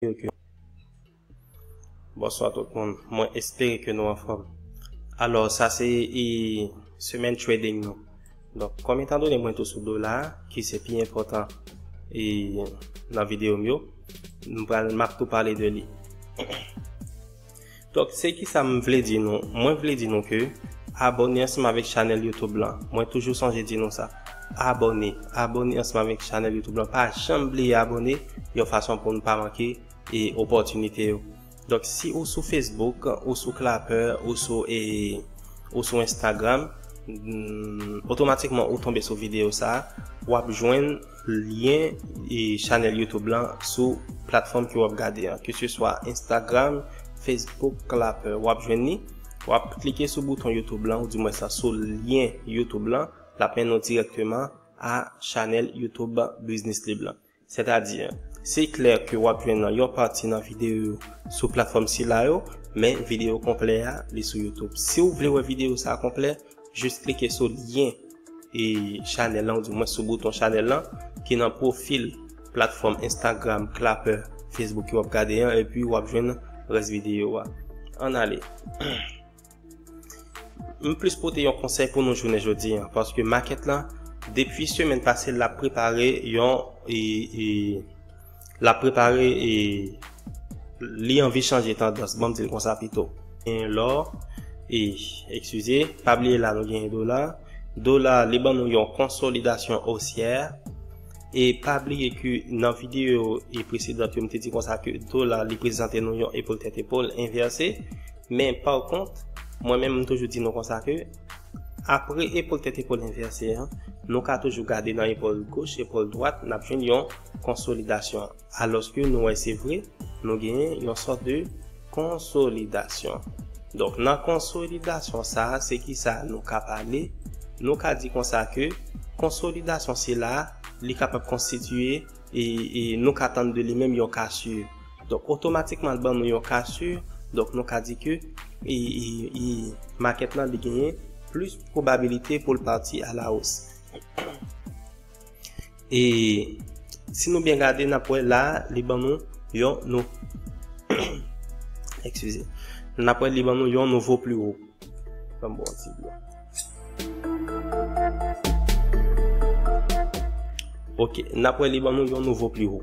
espere ke Bonswa tout moun, mwen espere ke nou anfòm. Alò sa se semèn trading nou. Donk kòm etan done mwen tou sou dola a ki se pi enpòtan e nan videyo m yo, m pral m ap tou pale de li. Donk se kisa m vle di nou, mwen vle di nou ke abòne ansanm avèk chanèl youtube lan, mwen toujou sonje di nou sa, abòne, abòne ansanm avèk chanèl youtube lan, pa janm bliye abòne yon fason pou nou pa manke e opòtinite yo. Donk si ou sou Facebook, ou sou Clapper, ou sou e ou sou Instagram, otomatikman ou tonbe sou videyo sa, wap jwenn. Lyen chanèl YouTube lan sou platfòm ke wap gade an, ke se swa Instagram, Facebook, Clapper, wap jwenn li, wap klike sou bouton YouTube lan ou di mwen sa sou lyen YouTube lan, lap mennen w dirèkteman a chanèl YouTube Business Lib lan. Sètadi, se klè ke wap jwenn yon pati nan videyo yo sou platfòm sila yo, men videyo konplè a li sou YouTube. Si ou vle wè videyo sa konplè, Jis klike sou lyen e chanèl lan ou di mwen sou bouton chanèl lan ki nan pwofil platfòm Instagram, Clapper, Facebook ki wap gade an epi wap jwenn rès videyo a. An ale. M plis pote yon konsèy pou nou jounen jodi an paske makèt lan depi semèn pase lap prepare yon e e Lap prepare e Li anvi chanje tandans banm dil konsa pito. Gen lò e ekskize. Pa bliye la nou gen dola. Dola li ban nou yon konsolidasyon osyè. E pa bliye ke nan videyo e presedant yo m te di konsa ke dola li prezante nou yon epol tèt epol envèse. Men pa kont mwen menm m toujou di nou konsa ke apre epol tèt epol envèse an nou ka toujou gade nan epol goch epol dwat nap jwenn yon konsolidasyon alòske nou wè se vre nou genyen yon sòt de konsolidasyon donk nan konsolidasyon sa se ki sa nou ka pale nou ka di konsa ke konsolidasyon sila li kapab konstitiye e nou ka tann de li menm yon kasur donk otomatikman li ban nou yon kasur donk nou ka di ke e makèt lan li genyen plis pwobabilite pou l pati a la os. E si nou byen gade n ap wè la a li ban nou yon nou Ekskize N ap wè li ban nou yon nouvo pli wo Ban m bwè yon ti dlo Ok N ap wè li ban nou yon nouvo pli wo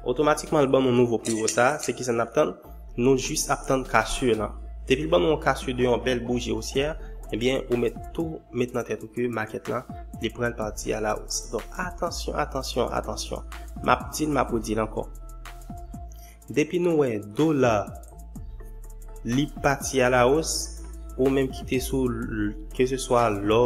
Otomatikman l ban nou nouvo pli wo sa a se kisa n ap tann Nou jis ap tann kasur lan. Depil ban nou yon kasur de yon bèl bouji osyè, ebyen ou mèt tou met nan tèt ou ke makèt lan li pral parti a la os. Donk atansyon, atansyon, atansyon. Map dil map redil ankò. Depi nou wè dola li pati a la os, ou menm kite sou ke se swa lò,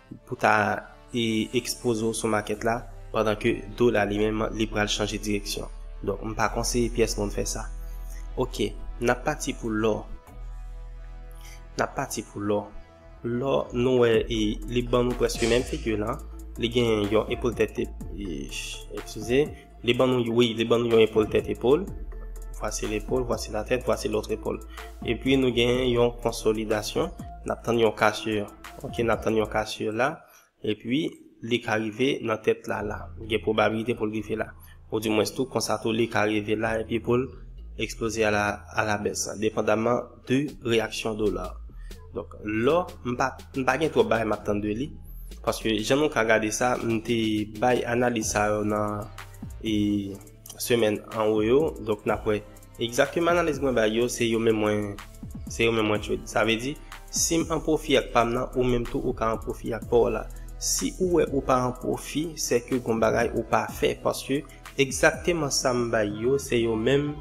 pou ta ekspoze w sou makèt la pandan ke dola li menm li pral chanje direksyon donk m pa konseye pyès moun fè sa ok n ap pati pou lò n ap pati pou lò lò nou wè e li ban nou prèske menm figi lan li gen yon epol tèt eesh eskize. Li ban nou, wi, li ban nou yon epòl tèt epòl. Vwasi lepòl, vwasi latèt, vwasi lòt epòl. Epi nou gen yon konsolidasyon. N ap tann yon kasye. Ok, n ap tann yon kasye la. Epi li ka rive nan tèt la la. Gen pwobabilite pou l rive la. Ou di mwens tou, konsa tou li ka rive la epi pou l eksploze a la bès. Depandaman 2 reyaksyon dola donk lò m pa m pa gen twòp bagay m ap tann de li paske jan nou ka gade sa m te bay analiz sa yo nan e semèn anwo yo donk n ap wè egzakteman analiz mwen bay yo se yo menm mwen se yo menm mwen trade sa vle di si m an pwofi ak pa m nan ou menm tou ou ka an pwofi ak pa w la si ou wè ou pa an pwofi se ke gon bagay ou pa fè paske egzakteman sa m bay yo se yo menm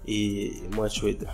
e mwen chweta.